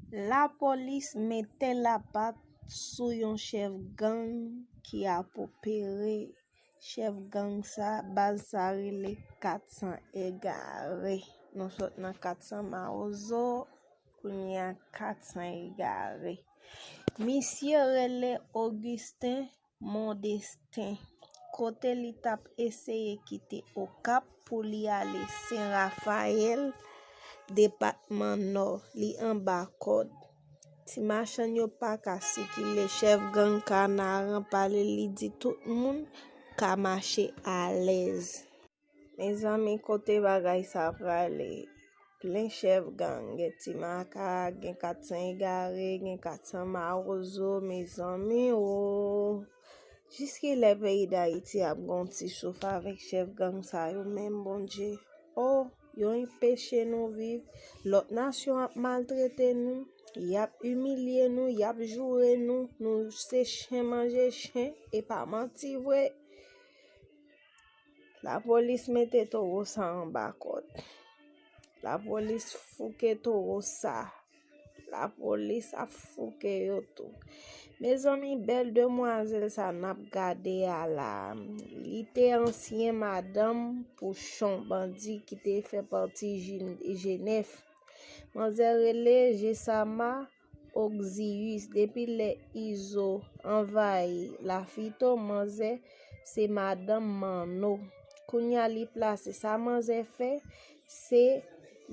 Lapolis mete lapat sou yon chèf gang ki ap opere. Chèf gang sa, baz sa rele 400 egare. Nou sot nan 400 mawozo, kounye a 400 egare. Misye rele Augustin. Mondestin, kote li t ap eseye kite Okap pou li ale Sen Rafayèl, depatman Nò, li anba kòd. Ti machann yo pa ka sikile, chèf gang Kanaran pale li di tout moun ka mache alèz. Mezanmi kote bagay sa prale plen chèf gang gen ti makak gen 400 egare gen 400 mawozo mezanmi ooh jis kilè peyi dayiti ap gon ti souf avèk chèf gang sa yo menm bondye oh yo enpeche nou viv lòt nasyon ap maltrete nou yap imilye nou yap joure nou nou se chen manje chen epa manti vre. La polis mete toro sa anba kod. La polis fouke toro sa. La polis ap fouke yo tou. Mezanmi bel demwazel sa nap gade a la. Li te ansyen madanm pou chon bandi ki te fe pati jenef. Manzè rele je sa ma. Oxzius depi lè izo anvayi lafito manzè se madanm manno kounya li plase sa manzè fè se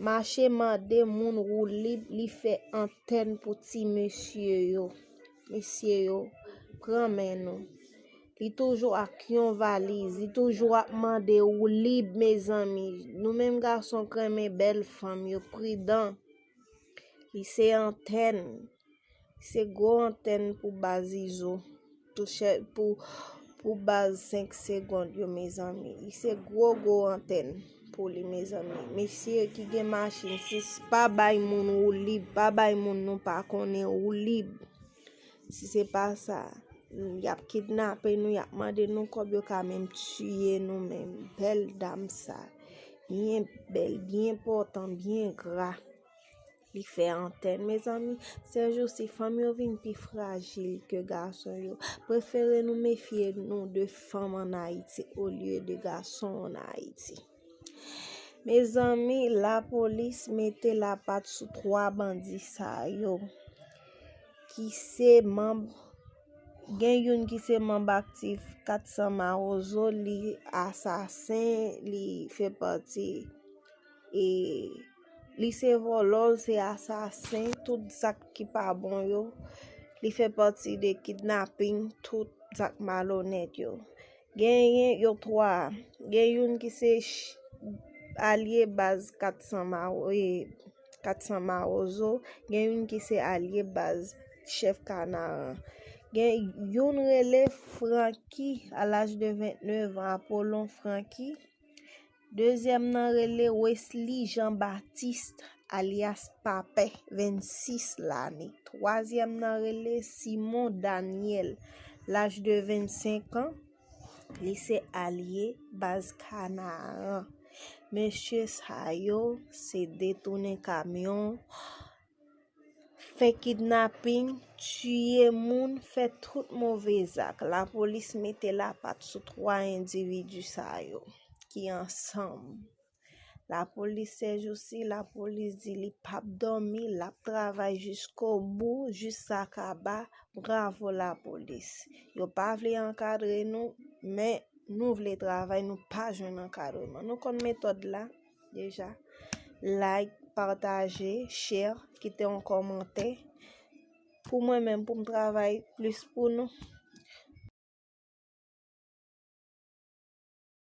mache mande moun woulib li fè antèn pou ti mesye yo mesye yo pran men nou li toujou ak yon valiz li toujou ap mande woulib mezanmi nou menm gason k renmen bèl fanm yo pridan. Li se antèn. Se gwo antèn pou baz izo. Touche pou pou baz 5 segond yo mezanmi. Li se gwo gwo antèn pou li mezanmi. Mesye ki gen machin 6 pa bay moun ou lib. Pa bay moun nou pa konnen ou lib. Si se pa sa, y ap kidnape nou, y ap mande nou kòb, yo ka menm tiye nou menm. Bèl dam sa, byen bèl, byen pòtan, byen gra. Li fè antèn. Mezanmi, sèjousi, fanm yo vin pi frajil ke gason yo. Prefere nou mefye nou de fanm ann Ayiti olye de gason ann Ayiti. Mezanmi la polis mete la pat sou 3 bandi sa yo ki se manb gen youn ki se manb aktif 400 mawozo li asasen li fè pati e li se vòlò l se asasen tout zak ki pa bon yo li fè pati de kidnaping tout zak malonèt yo Genyen yo 3. Gen youn ki se alye baz 400 mawozo, gen youn ki se alye baz chèf kanaran. Gen youn rele Franky a laj de 29 an, Apolon Franky. Dezyèm nan rele Wesly Jean Baptiste alyas Papè, 26 lane. Twazyèm nan rele Simon Daniel, laj de 25 an, li se alye baz Kanaran. Mesye sa yo se detounen kamyon. fè kidnaping, tiye moun, fè tout move zak. Lapolis mete lapat sou 3 endividi sa yo ki ansanm. Lapolis sèjousi, lapolis di li pap dòmi, l ap travay jiskobou, jis sa kaba, bravo lapolis. Yo pa vle ankadre nou, men nou vle travay, nou pa jwenn ankadreman. Nou konn metòd la? Deja. Like, pataje, share, kite yon komante. Pou mwen menm pou m travay plis pou nou.